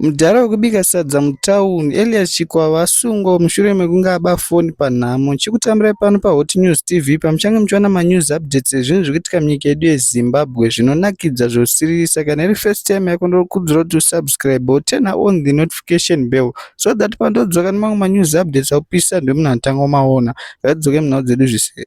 Mudhara wekubika sadza mutauni, Elias Chikwava, asungwa mushure mekunge aba foni panhamo. Chikutambirai pano paHot News TV pamuchange muchiwana manews updates ezvinhu zviri kuitika munyika yedu yeZimbabwe zvinonakidza zvosiririsa. Kana iri first time yako ndinokurudzira kuti usubscribe woturner on the notification bell so that pandodzoka nemamwe manews updates akupisa ndiwe munhu anotanga kumaona. Ngatidzokei munhau dzedu zvise.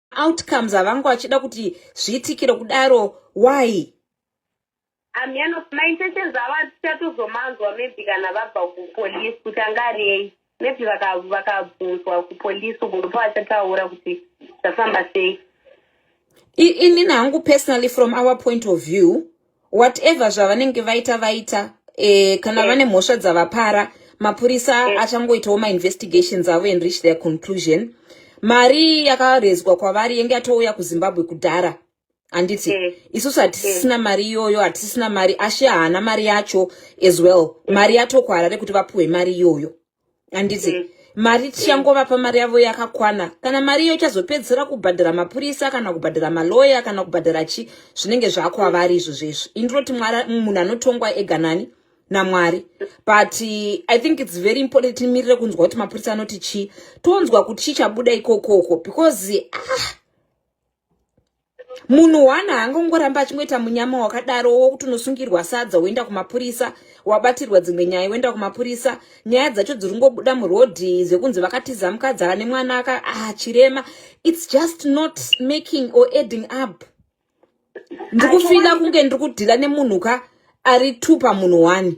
outcomes havangu vachida kuti zviitikire kudaro why amyano maintentions avo atichatozomanzwa maybe kana vabva kupolice kuti anga ariyei maybe vakabvunzwa kupolice uko ndipo vachataura kuti zvafamba sei inini hangu personally from our point of view whatever zvavanenge vaita vaita eh, kana eh. vane mhosva dzavapara mapurisa eh. achangoitawo mainvestigations avo and reach their conclusion mari yakarezwa kwavari yenge yatouya kuzimbabwe kudhara handiti mm. isusu hatisisina mm. mari iyoyo hatisisina mari ashe haana mari yacho as well mm. mari yatokuharare kuti vapuhwe mari iyoyo handiti mm. mari tichangovapa mari yavo yakakwana kana mari iyo ichazopedzisira kubhadhara mapurisa kana kubhadhara maloya kana kubhadhara chi zvinenge zvakwavari izvo zvezvo indinoti mwari munhu anotongwa ega nani namwari but eh, i think its very important timirire kunzwa kuti mapurisa anoti chii tonzwa kuti chii chabuda ikokoko because ah, munhu one haangongoramba achingoita munyama wakadaro wokuti unosungirwa sadza woenda kumapurisa wabatirwa dzimwe nyaya woenda kumapurisa nyaya dzacho dziri kungobuda murodhi zvekunzi vakatiza mukadzi ane mwana aka ah, chirema its just not making or adding up ndiri kufila kunge ndiri kudhila nemunhu ka ari two pamunhu one